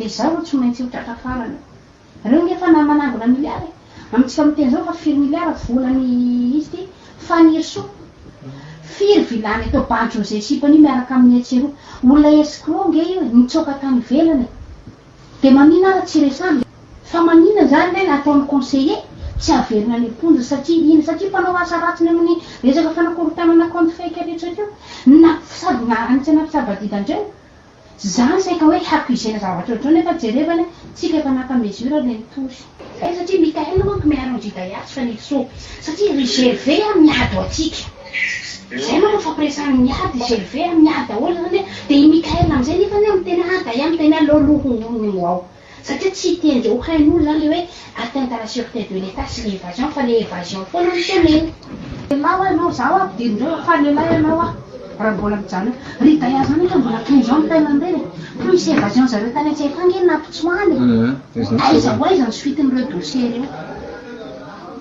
Dia izaho no tsy maintsy ho tratra farany. Reo nge efa na manangona milliard e! Amintsika miteny zao fa firy milliard vola ny izy ty? Fanirisoa! Firy vilany atao bandy José sipany io miaraka aminy etsy eroa? Olona escroc nge io e! Nitsoaka tany ivelany e! Dia manina ara tsy resahana e! Fa manina zany lay na ataony conseiller tsy averina any am-ponja satria ina? Satria mpanao asa ratsiny aminy resaka fanakorontanana compte fake retsaka io na sady miara-antsy na mitsabadida andreo Za saika hoe hacuser-na zavatra ohatr'izao nefa jerevana tsika efa naka mesure le nitory. Hay satria Mickaël manko miaro an'i Judaya tsy fanely soa satria ry GV an miady ho antsika. Zay manko nifampiresahany miady i GV an miady daholo zany an dia i Mickaël amin'izay nefany an miteny ah Daya miteny ah lolo hono hono ny moa ao. Satria tsy hiteny zao hain'olo zany le hoe atteinte à la sûreté de l'Etat sy le evasion fa le evasion foana no teneniny. Lehilahy oa ianao, zaho oa ampidirin'ireo oa fa lehilahy ianao oa raha mbola mijanona eo. Ry Daya zany efa mbola toy izao ny taille an'ireny e! Plus evasion zareo tany an-tsetra any nge nampitsoahana e! Aiza ho aiza ny suite-n'ireo dossiers ireo?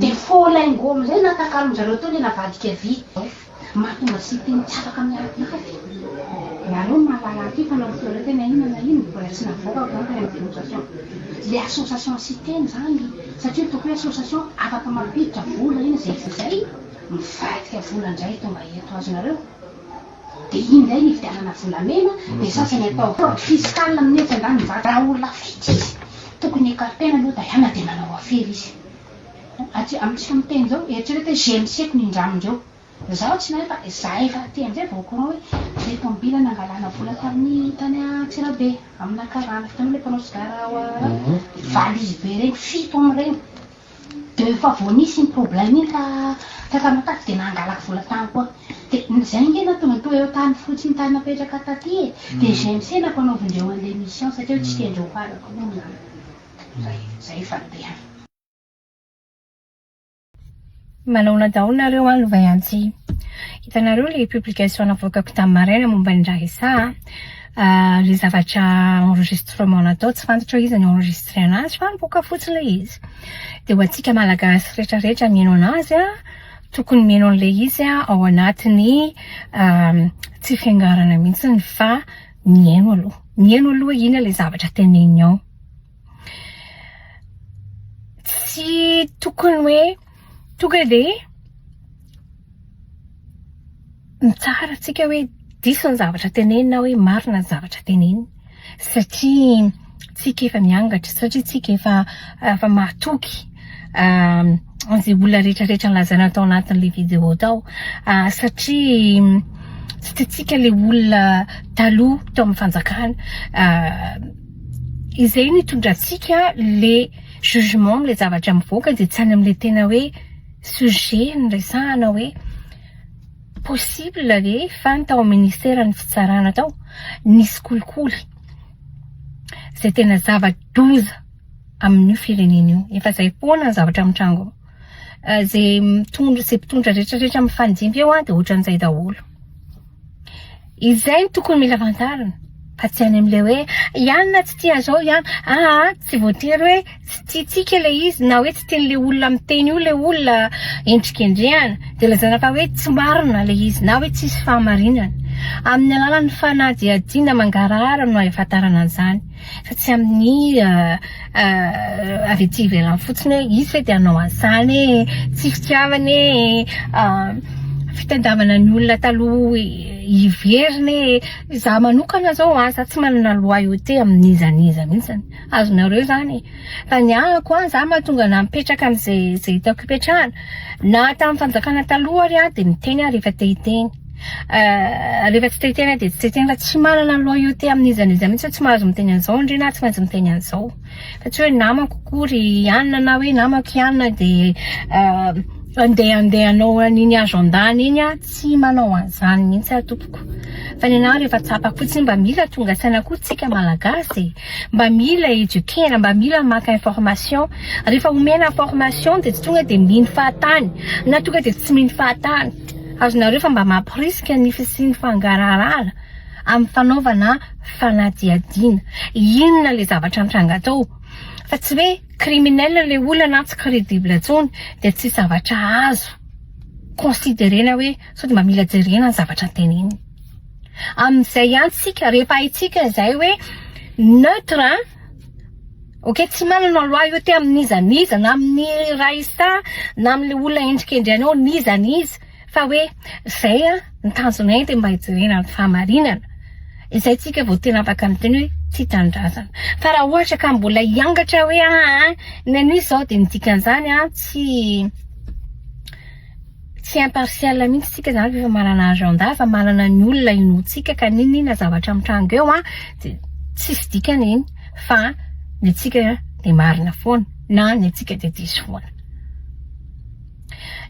Dia faux lingot amin'izay natakalon-dRareo teo ilay navadika vy izao. Mahatonga site ny tsy afaka miady avy. Ianareo no mahalala an'ity fa norefereo teny ahiana na ino mbola tsy navoaka avy eo tany amin'ny dénonciation. Ilay association site-ny izany satria tokony hoe association afaka mampiditra vola iny izay sy izay mivadika vola indray tonga eto. Azonareo? Dia iny indray ny hividianana volamena, dia sasany atao fraude fiscale amin'ny etsy andaniny izany. Raha olona vitsy izy, tokony ecarter-na aloha Diana dia manao afera izy. Aty amintsika miteny izao, eritrereto hoe GMC-ko nindramin dreo. Izaho tsy nahay fa izahay efa aty amin'izay vao au courant hoe ilay tomobile nangalana vola tamin'ny tany Antsirabe, amina karana. Hitanao ilay mpanao sigara ao Valizy be ireny, fito amin'ireny. De efa vao nisy iny problème iny ka fahefana taty de nangalako vola tany koa de zay nge nahatonga ny toereo tany fotsiny tany napetraka taty e de GMC nampanaovindreo anle mission satria tsy tiandreo ho arako moa ny zay zay fa de. Manaona daholo nareo an lovay antsy. Hitanareo le publication navoakako tam maraina momba ny Raresa a. Le zavatra enregistrement natao tsy fantatrao iza no enregistré anazy fa nivoaka fotsiny le izy. De ho antsika malagasy rehetra rehetra mihaino anazy a tokony mihaino anle izy ao anatiny tsy fiangarana mihitsiny fa mihaino aloha. Mihaino aloha ina le zavatra teneniny ao. tsy tokony hoe tonga dia mitsara antsika hoe diso ny zavatra teneniny na hoe marina ny zavatra teneniny satria tsika efa miangatra, satria tsika efa efa mahatoky an'izay olona rehetrarehetra nolazaina tao anatin'ilay vidéo tao satria tsy tiantsika ilay olona taloha tao amin'ny fanjakana izay no itondrantsika le jugement amle zavatra mivoaka de tsy any amle tena hoe sujet niresahana hoe possible ve fa ny tao amin'ny ministère ny fitsarana tao nisy kolikoly zay tena zava-doza amin'io firenena io efa zay foana ny zavatra mitrango zay mitondra zay mpitondra retraretra mifanjimby eo a de ohatran'izay daholo Izay no tokony mila fantarina fa tsy any amin'ilay hoe iany na tsy tia zao iany aa tsy voatery hoe tsy tiantsika ilay izy na hoe tsy tian'ilay olona miteny io ilay olona endrikendrehana dia lazaina fa hoe tsy marina ilay izy na hoe tsisy fahamarinana amin'ny alalan'ny fanadihadiana mangarahara no ahafantarana an'izany fa tsy amin'ny avy aty ivelany fotsiny hoe izy ve dia hanao an'izany e, tsy fitiavana e, fitandavana ny olona taloha hiverina e, izaho manokana izao aza tsy manana loyauté amin'iza n'iza mihintsy, azonareo izany e, fa ny ahako an, izaho mahatonga anà mipetraka amin'izay hitako hipetrahana, na tamin'ny fanjakana taloha ary aho dia niteny aho rehefa te hiteny Eh, rehefa tsy te tena dia tsy te tena fa tsy manana loyauté amin'iza n'iza mihitsy hoe tsy mahazo miteny an'izao ndry na tsy maintsy miteny an'izao fa tsy hoe namako koa ry anona na hoe namako i anona dia eh, andeha andeha anao an'iny agenda-ny iny aho tsy manao an'izany mihitsy aho tompoko fa ny anah rehefa tsapako fotsiny mba mila tonga saina koa tsika malagasy e mba mila eduquer-na mba mila maka information rehefa omena information dia tsy tonga dia mino fahatany na tonga dia tsy mino fahatany Azonareo fa mba mamporisika ny fisian'ny fangaraharaana amin'ny fanaovana fanadihadiana. Inona ilay zavatra mitranga tao? Fa tsy hoe criminel ilay olona na tsy credible intsony dia tsy zavatra azo considerena hoe sao dia mba mila jerena ny zavatra teneniny. Amin'izay ihany isika, rehefa haintsika izay hoe neutre, Ok tsy manana loi io te amin'iza n'iza na amin'ny ray sa na amin'ilay olona endrikendry anao n'iza n'iza fa hoe zay an ny tanjonay de mba hijerena ny fahamarinana izay tsika vao tena afaka miteny hoe tia tanindrazana fa raha ohatra ka mbola hiangatra hoe aa ny an'iza zao de ny dikan'izany an tsy Tsy impartial mihitsy tsika zany rehefa manana agenda fa manana ny olona inoantsika ka n'inon'inona zavatra mitranga eo an dia tsisy dikany iny fa ny antsika dia marina foana na ny antsika dia diso foana.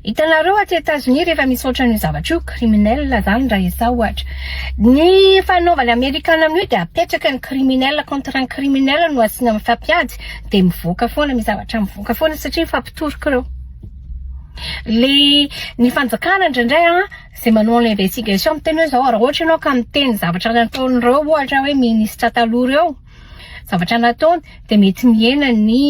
Hitanareo aty Etazonia rehefa misy ohatran'io zavatra io, criminel zany raha izaho ohatra. Ny fanaovan'ny Amerikana amin'io dia apetraka ny criminel contre ny criminel no asiana mifampiady dia mivoaka foana, misy zavatra mivoaka foana satria mifampitorok'ireo. le ny fanjakana indraindray an izay manao an'ilay investigation miteny hoe izao raha ohatra ianao ka miteny zavatra nataon'ireo ohatra hoe ministra taloha ireo zavatra nataony dia mety mihena ny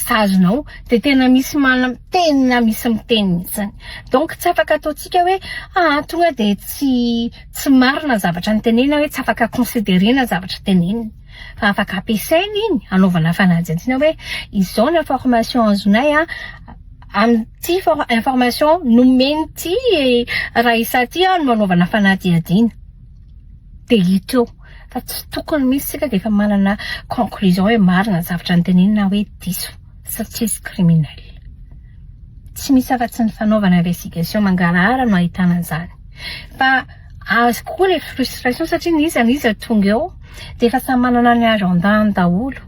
sazinao dia tena misy manam tena misy miteny mihitsy donc tsy afaka ataontsika hoe aa tonga dia tsy marina ny zavatra notenenina hoe tsy afaka considerena ny zavatra tenenina fa afaka ampiasaina iny hanaovana fanadihadiana hoe izao ny information azonay an, amin'ity information nomen'ity Raissa ity no hanaovana fanadihadiana. Dia hita eo fa tsy tokony mihitsy isika dia efa manana conclusion hoe marina ny zavatra notenenina na hoe diso fa tsy izy criminel. Tsy misy afa-tsy ny fanaovana investigation mangarahara no ahitana an'izany. Fa. Azoko koa ilay frustration satria na iza na iza tonga eo dia efa samy manana ny agenda-ny daholo.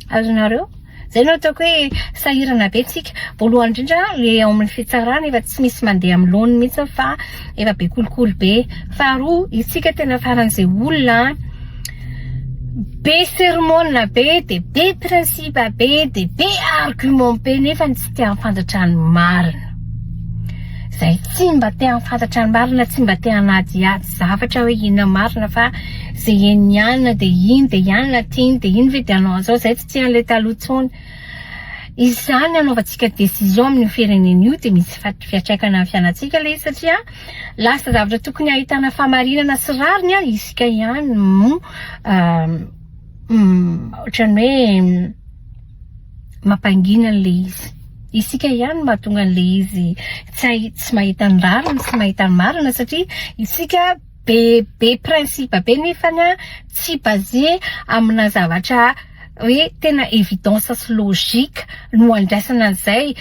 Azonareo? Izay no ataoko hoe sahirana be tsika. Voalohany indrindra ilay ao amin'ny fitsarana efa tsy misy mandeha amin'ny laoniny mihitsy fa efa be kolikoly be. Faharoa, isika tena faran'izay olona be sermona be dia be principe be dia be argument be nefa tsy te hahafantratra ny marina. Izay tsy mba te hahafantatra ny marina, tsy mba te hanadihady zavatra hoe inona marina fa izay henony ihany dia iny dia ihany na tiany dia iny ve dia hanao an'izao, izay tsy tia an'ilay taloha intsony. Izany anaovantsika décision amin'io firenena io dia misy fiantraikany amin'ny fianantsika ilay izy satria lasa zavatra tokony hahitana fahamarinana sy rariny ary isika ihany no ohatran'ny hoe mampangina an'ilay izy. Isika ihany no mahatonga an'ilay izy tsy hay tsy mahita ny rariny sy mahita ny marina satria isika be be principe be nefany an tsy basé amina zavatra hoe tena évidence sy logique no andraisana an'izay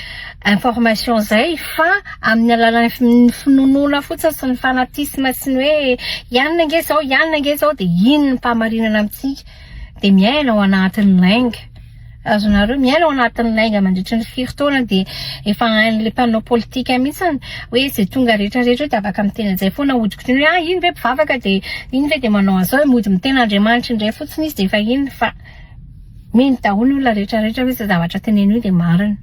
information izay fa amin'ny alalan'ny finoanoana fotsiny sy ny fanatisme sy ny hoe i anona ange izao i anona ange izao dia iny no mpahamarinana amintsika. dia miaina ao anatin'ny lainga. Azonareo miaina ao anatin'ny lainga mandritry ny firy taona dia efa hain'ilay mpanao politika mihitsy ny hoe izay tonga rehetra rehetra dia afaka miteny an'izay foana hodikodiny hoe ah iny ve mpivavaka dia iny ve dia manao an'izao mody miteny Andriamanitra indray fotsiny izy dia efa iny fa mino daholo ny olona rehetra rehetra hoe izay zavatra teneno io dia marina.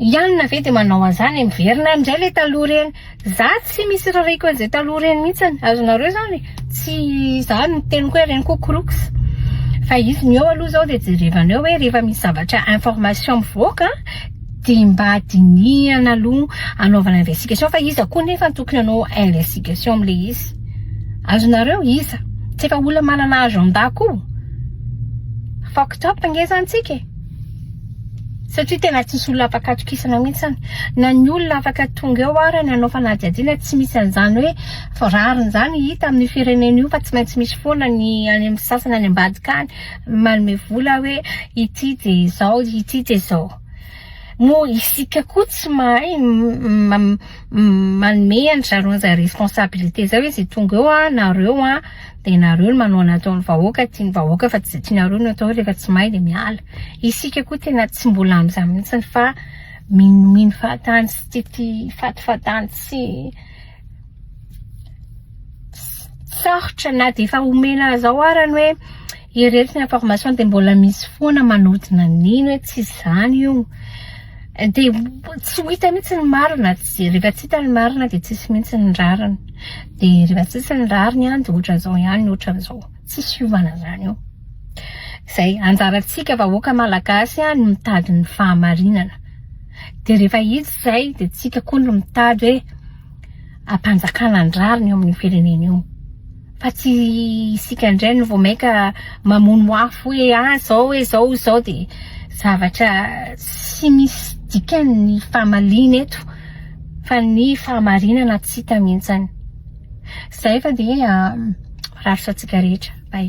I Anna ve dia manao an'izany e? Miverina indray ilay taloha ireny. Za tsy misy irarahiako an'izay taloha ireny mihitsy. Azonareo izany? Tsy za no niteny koa hoe ireny koa croox. Fa izy ny eo aloha izao dia jerevana eo hoe rehefa misy zavatra information mivoaka dia mba dinihana aloha anaovana investigation fa iza koa nefa no tokony hanao investigation amin'ilay izy. Azonareo? Iza? Tsy efa olona manana agenda koa? Fucked up nge izany tsika e! satria tena tsisy olona afaka atokisana mihitsy any, na ny olona afaka tonga eo ary ny hanao fanadihadiana tsy misy an'izany hoe rariny izany hita amin'io firenena io fa tsy maintsy misy foana ny any amin'ny sasany any ambadika any manome vola hoe ity dia izao ity dia izao, moa isika koa tsy mahay manome an-dry zareo an'izay responsabilité izay hoe izay tonga eo an, nareo an. Dia nareo no manao ny ataon'ny vahoaka tian'ny vahoaka fa tsy izay tianareo no atao rehefa tsy mahay dia miala. Isika koa tena tsy mbola amin'izany mihitsy fa minomino fahatany sy tia tia fatifatany tsy sarotra na dia efa omena zao ary ny hoe Iretsy ny information dia mbola misy foana manodina nino hoe tsy izany io, dia tsy ho hita mihintsy ny marina, rehefa tsy hita ny marina dia tsy hisy mihintsy ny rariny, dia rehefa tsy hisy ny rariny dia ohatran'izao ihany ny ohatran'izao, tsisy hiovana izany io, izay, anjarantsika vahoaka malagasy no mitady ny fahamarinana, dia rehefa hita izay dia tsika koa no mitady hoe hampanjakana ny rariny eo amin'ny firenena eo. fa tsy isika indray no vao mainka mamono afo hoe ah izao hoe izao izao dia zavatra tsy misy dikany ny famaliana eto fa ny fahamarinana tsy hita mihintsany izay fa dia miraritra antsika rehetra bay